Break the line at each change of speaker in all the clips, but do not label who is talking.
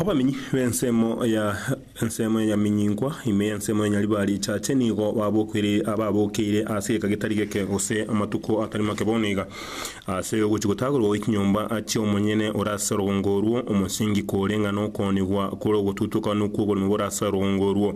Abamenyi b'ensemo ya ensemo ya Nyaminyingwa, ime y'ensemo ya Nyaribari, Chache nigo babokeire ababokeire ase egeka getari geke gose amatuko atari make bono iga. Ase ogochia gotagerwa gwe chinyomba achia omonyene ore ase orogongo orwo, omosingi kore ng'a nokoonigwa kore ogotutukanu kw'oboremu bore ase orogongo orwo.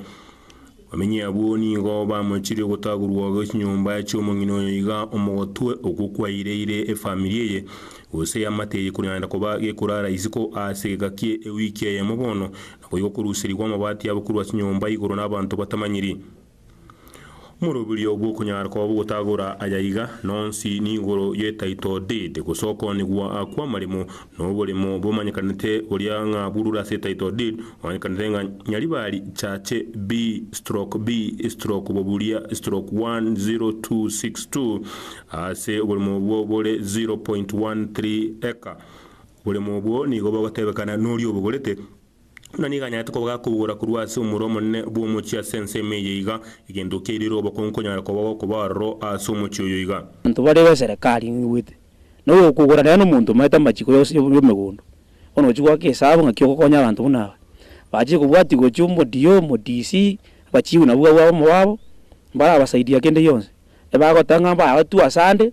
Bamenyi abwo nigo bamochirie ogotagurwa gwe chinyomba chi'omong'ina oyo iga omogotwe okwo kwaireire efamiri eye, gose eamate eye korenda koba gekorara isiko aase egeka kie ewiki eyemo bono, nakoigo koruserigwa amabati abo korwa chinyomba igoro nabanto batamanyiri. Omoroberio bw'okonyara kwabo gotagora aya iga, nonsi nigoro ye title deed, gose okoonigwa kw'amaremo Noboremo bomanyekanete boria ng'a burure ase title deed omanyekanete ng'a Nyaribari Chache B-B-Boburia stroke 10262 ase oboremo obwo bore 0.13 acre. Oboremo obwo nigo bogotebekana noria obogorete. Buna nigo anyarete kobaga kobugora korwa ase omoro omonene bw'omochie ase ense ime eye iga, egento kerire obokongu konyara kobaga okoba aroro aase omochie oyo iga. Abanto bare b'eserekari
ing'igwete, na ogokogora nere nomonto omaete amachiko yonsi y'emegondo, bono ochia goaka esabu ng'aki ogokonya abanto buna aba, bache kobwatia gochia omo DO, omo DC, abachifu nabwo abwo abamo babo, mbarabasaidia kende gionsi. Ebagotaka ng'a mbaye abatwe asande.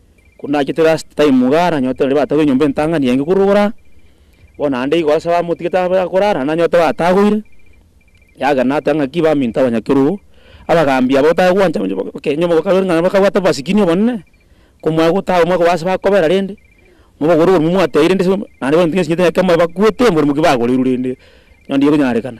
Korende nachete last time igaa nanyorete naende batagoire enyomba entang'ani enge korwa ogoro aa, bono naende igo ase bamotigete abe akore aa, naende nanyorete batagoire, yagera nateba ng'aki baminto abanyakerogo, abagaambi aba otae gwancha onye ba- okay onye bokabere ng'a bakabwate obomasikini obonene, komwaa gotaga omwaka obo ase bakobera rende, mobogore oborumo mwateire rende ase naende baminto nyesinto nyakemoe bakwete mborimoki bagoreirwe rende, onde okonyarekana.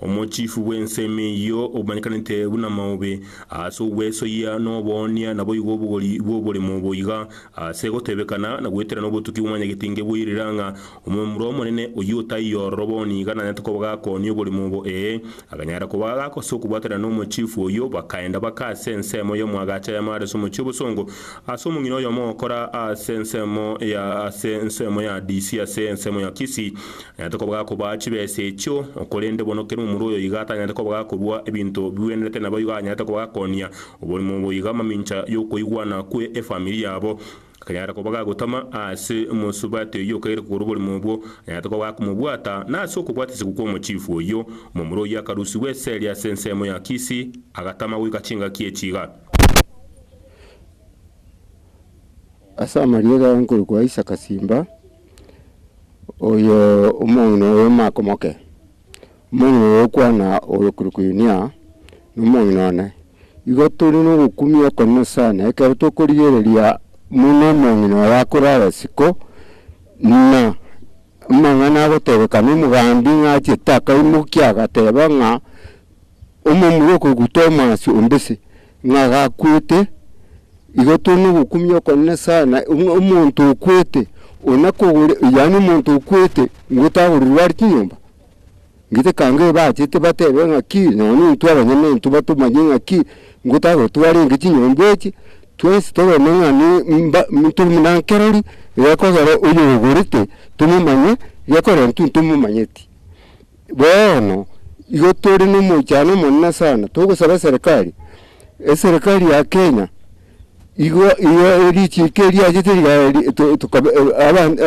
Omochifu bw'ensemo eyio omanyekanete buna maobe, ase ogwesoyia noboonia naboigo obogori bw'oboremo boiga, ase gotebekana na goeterana obotuki bw'omonyageti ngeboirira ng'a omomura omonene oyio otaiyo ororo bono iga nanyarete koba gakoonia oboremo obo, ee, aganyara koba gagakosa ase okobwatanera n'omochifu oyio, bakaenda baka ase ensemo y'omoagacha ya Mares omochie obosongo, ase omong'ina oyomo ogokora ase ensemo ya ase ensemo ya Disi ase ensemo ya Kisi. Nanyarete kobaga kobaa chibesa echio, korende bono kera omorua oyo iga tanyarete kobaga korua ebinto bigwenerete naboigo anyarete kobaga konia oborimo boiga mamincha y'okoigwana kwe efamiri yabo. Akanyara kobaga gotama ase mosubati oyio okegire kogora oborimo obwo, anyarete kobaga komobwata, na ase okobwatesegwa kw'omochifu oyio, omomura oyio akarusigwa esegi ase ensemo ya Kisi, agatama goika chingaki echi iga.
Ase amariga aya nkorokwa Isaka Simba. Oyo omong'ina oyo omake omoke, omong'ina oyo okwana oyo okorokwa Yunia, nomong'ina one. Igo tore nogokumia okonene sana, ekero tokorigereria buna omong'ina oyo akore agasiko, buna amang'ana agotebeka nomogambi ng'a achiete akaimokia agateba ng'a. Omomura okoguta omoasi o mbese, ng'a gakwete, igo tore nogokumia okonene sana, ng'a omonto okwete, ona kogore, yaani omonto okwete ngote agorirwe are chinyomba. Ngite kanga ebachete batebe ng'aki, nonya intwe abanyene intwe batomanye ng'aki, ngote agore twarenge chinyomba echi, twensi toreme ng'a ne mba tore buna nkerori, egekogera oyogorete tomomanye, gekorera intwe ntomomanyeti. Bono igo tore nomochando omonene sana, togosaba eserekari, eserekari ya Kenya igo igo erichiko eriachete rigaya ri to- tokabe abanto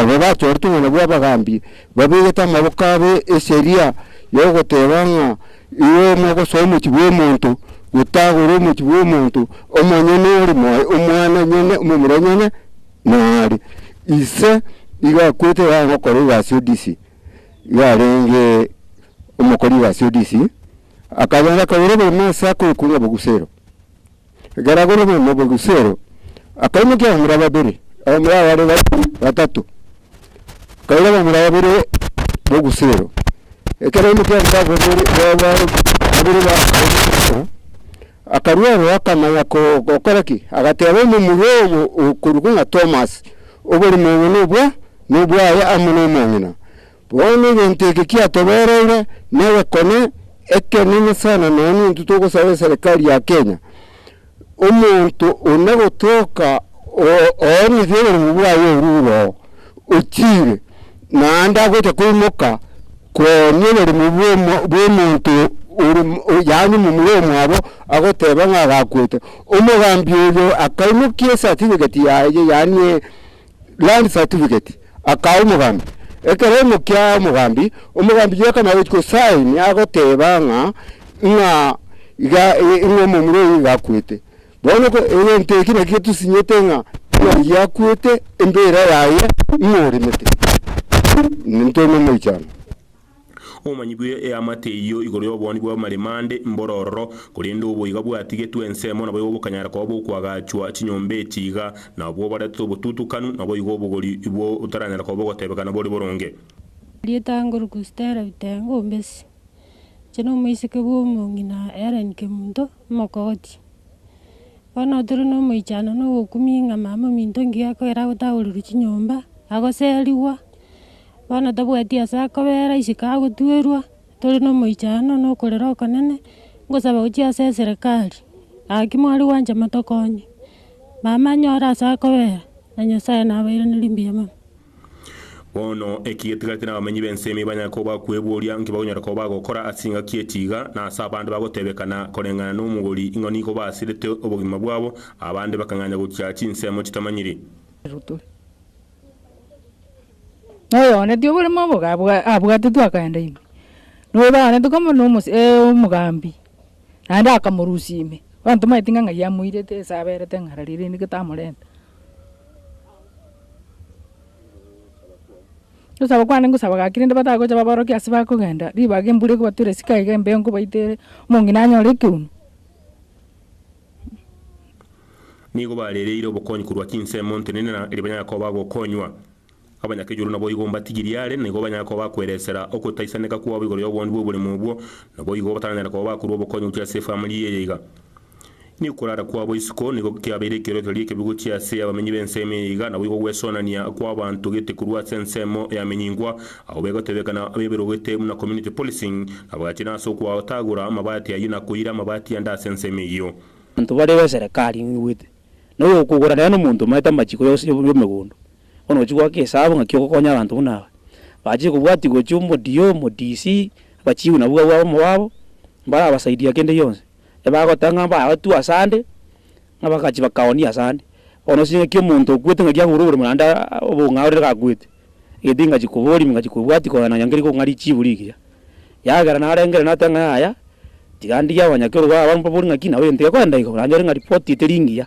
aba bachorete obogima bwa abagambi, babegete amaboko abo eseria ya ogoteba ng'a igo mogosoa omochie bwa omonto, gotagora omochie bwa omonto, omonyene ore moyo, omwana onyene, omomura onyene, nare. Ise iga akwete iga agokora egasi y'odisi. yarenge omokori o Asiodisi, akayaanga akagora oborimo ase akoikwa ng'obogusero. Ekero agora oborimo obogusero, akaimokia abamura babere, abamura aba bare batato, akaira abamura babere b'ogusero. Ekero aimokia abamura aba babere b'ogusero. Akarua oro akamanya gokora ki, agateeba omomura obo okorokwa ng'a Tomas, Oborimo obo nobwa nobwaye amo nomong'ina. Bono egento eke kiatobereire negekone ekenene sana nonya nintwe togosaba eserekari ya Kenya omonto one gotoka oonigwe oborimo bwaye orure oo ochiire. Naende agocha koimoka koomia oborimo bw'omonto ore, yaani omomura omwabo, agoteba ng'a agakwete. Omogambi oyo akaimokia esatifigeti yaye, yaani e land certificate, akaa omogambi. Ekero aimokia omogambi, omogambi oyio akana gochia gosign agoteba ng'a, ng'a iga, ng'a omomura oyio iga akwete. Bono egento eke nakio tosinyete ng'a Omoerio akwete, embeera yaye imoremete, nintore nomoichano. Obomanyi
bwe eamate eyio igoro y'obonyi bw'amaremande mbororo, korende oboiga bwatigetwe ensemo naboigo bokanyara koba bokoagachwa chinyomba echi iga, na obwo obarete obotutukanu, naboigo obogori ibo botaranyara koba ogotebekana bore boronge. Rietanguru
Christelle Bitengo Mbesi, inche nomoiseke bw'omong'ina Hellen Kemunto. Omokootia. Bono tore nomoichano na ogokumia ng'a mama ominto ngiya koera agotagorirwa chinyomba, agoserigwa, bono tabwati ase akobera isiko agotwerwa, tore nomoichano na okorera okonene, ngosaba gochia ase eserekari, gaki mware gwancha motokonye. Mama anyore ase akobera, na Nyasaye nabairaneri mbuya mono. Bono,
eki getigati nabamenyi b'ensemo ibanyare koba kweboria nki bakonyora koba bagokora ase chingaki echi iga, na ase abande bagotebekana koreng'ana nomogori ing'o nigo basirete obogima bwabo, abande bakang'anya gochia chinsemo chitamanyiri.
Na oyooneti oboremo obo abwatetwe akaenda ime, noyo baganete komorera omogaambi. naende akamorusia ime. Bono tomaeti ng'a ng'ai amoirete ase aberete ng'a ara riria rende getamorenta. Gosaba kwane ngosaba gaki rende batagocha baborokia ase bakogenda, ribaga embura ekobatura esike aiga embeo nkobaita ere, omong'ina anyore ekeuni.
Nigo barereire obokonyi korwa chinsemo ntenena, erio banyare koba bagokonywa. Abanyakechulu naboigo mbatigirie are, na igo banyare koba bakweresera ogotaisaneka kwabo igoro y'oboondu bw'oborimo obwo, naboigo bataranyare koba bakorua obokonyi gochia ase efamiri eye iga. Nigo okorara kwabo isiko nigo kiabeire ekeorokererio ekebe gochia ase abamenyi b'ensemo eye iga, naboigo ogwesonania kw'abanto gete korwa ase ensemo yamenyingwa, agwo begotebekana abeberogete buna community policing, na bagachina ase okoatagora amabati ayio na koira amabati ande ase ensemo eyio. Abanto barebe
eserekari ng'igwete, na oyokogora nere nomonto omaete amachiko y'omogondo, Bono gochia goaka esaabo ng'aki ogokonya abanto buna aba. Bachie kobwatia gochia omodio, omodisi, abachigu nabwo abwo abamo babo, mbarabasaidia kende gionsi. Ebagoteba ng'a mbaratwe ase ande, ng'a bagachia bakaonia ase ande. Bono ase ng'aki omonto okwete ng'aki agure oboremo naende obong'aini orire gakwete, egento ingachia koboria ingachia kobwatia kogenda nonya nkerige kong'aria echibu rigiya. Yagera narengere nateba ng'a yaya, tiga ndige abanyakero baba mbaborie ng'aki nabo egento gekoenda iga, naende ore ng'a ripoti tere engiya.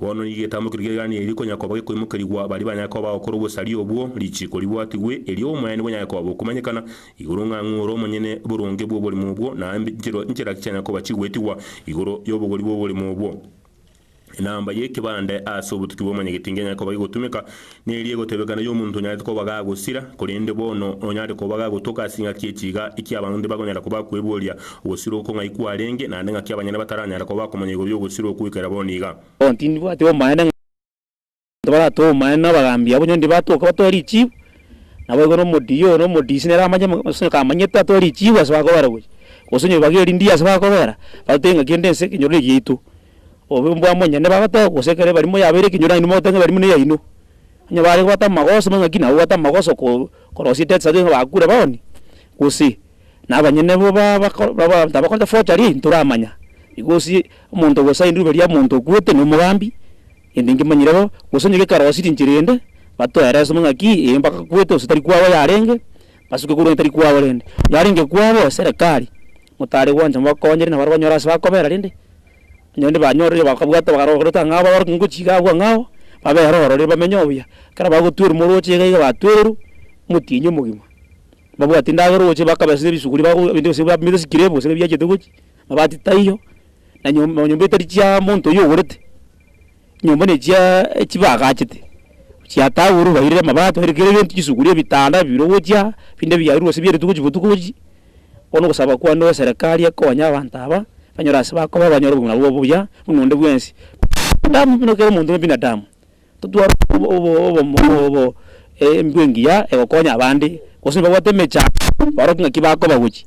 Bono nigo
getamokire rigereranio erio konya koba gekoimokerigwa baria banyare koba bagokora obosaria obwo, richiiko ribwatigwe, erio omoeene bonyare koba bokomanyekana igoro ng'a ng'oore omonyene boronge bw'oborimo obwo, na nchera nchera ki chianyare koba chigwetigwa igoro y'obogori bw'oborimo obwo. Enamba y'ekebande ase obotuki bw'omonyagetinga enyare koba egotumeka, Neri egotebekana y'omonto onyarete koba gagosira, korende bono onyare koba gagotoka ase engaki echi iga, eki abanto tibakonyara koba kweboria ogosira oko ng'ai kwarenge, naende ng'aki abanyene bataranyara koba komanya igoro y'ogosira oko goikera bono iga. Bono tindibwati
omoeene ng'a abanto baratoe omoeene na abagambi abo, onye ndibatoka batoe richibu, naboigo nomodiyo oyo na omodisi nere amanye ng'a gose kamanyete atoe richibu ase bakobera gochia, gose onye bibage erindie ase bakobera, batoe ng'aki erinde ense ekenyoro eye giaito. Obe mbwamonyene bagoteba gose ekero ebarimo yabeire ekenyoro nainwe mogote ng'a ebarimo neyaino. Onye bare gobwata amagoso buna ng'aki nabo babwate amagoso ko korosia etext ase ng'a bakure bono, gose na abanyene bo ba bako ba abanto abakorete forgery eyio ntoramanya. Igo gose omonto ogosaini ribe ria omonto okwete na omogambi, gento nkemanyire bo, gose onye gekarosi rinchera ende, batoera esemo ng'aki eye mpaka akwete gose tari kwabo yarenge, basuke korwa onye tari kwabo rende. Yarenge kwabo, serekari, motare gwancha mobakonyere nabo are gonyora ase bakobera rende, Onye nibanyorire bakabwata bakarogoreta ng'a aba abare ngochia iga agwo ng'a ao, babere ororo riria bamenye obuya. Ekero bagotwerwa morooche iga iga batwerwa, omotienyi omogima. Mbabwati ndagera ogochia bakaba ase ebisuguri bago ebinto bionsi bab bire sikire gose biachete gochia, amabati taiyo, na nyom nyomba etari chia monto oyio ogorete. Nyomba nechia chibagachete, chiatagurwe bairire amabaati bairire kera egento, chisuguria, ebitanda bibirwe gochia, binde biarurwe ase bie rituko chibotuko echi. Bono ogosaba kwane gwa eserekari ekonye abanto aba, banyore ase bakoba banyore obogima bwabo obuya buna onde bwensi. Damu buna kera omonto bw'ebinadamu, totware obomo embwe engiya egokonya abande, gose nibabwate emechando, baroke ng'aki bakoba gochia.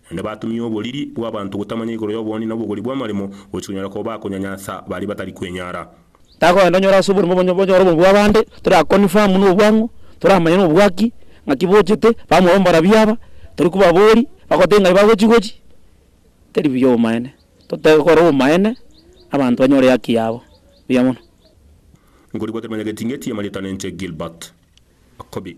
Naende batumia oboriri bw'abanto gotamanya igoro y'oboonde na obogori bw'amaremo, gochia konyora koba bakonyanyansa baria batari kwenyara. Takoenda onyore
ase oborimo obo onyore obobe bw'abande, tora confirm n'obwang'u, toramanye n'obwaki ng'aki bochete, bamorwa mbarabwo aba, tori kobabori, bagotebia ng'ai bagochi gochi, teri buya obomaene. Totebe kore obomaene, abanto banyore ehaki yabo. Buya mono.
Nkorigwa kemenya geting'eti ya
Marieta na
enche Gilbert. Akobi.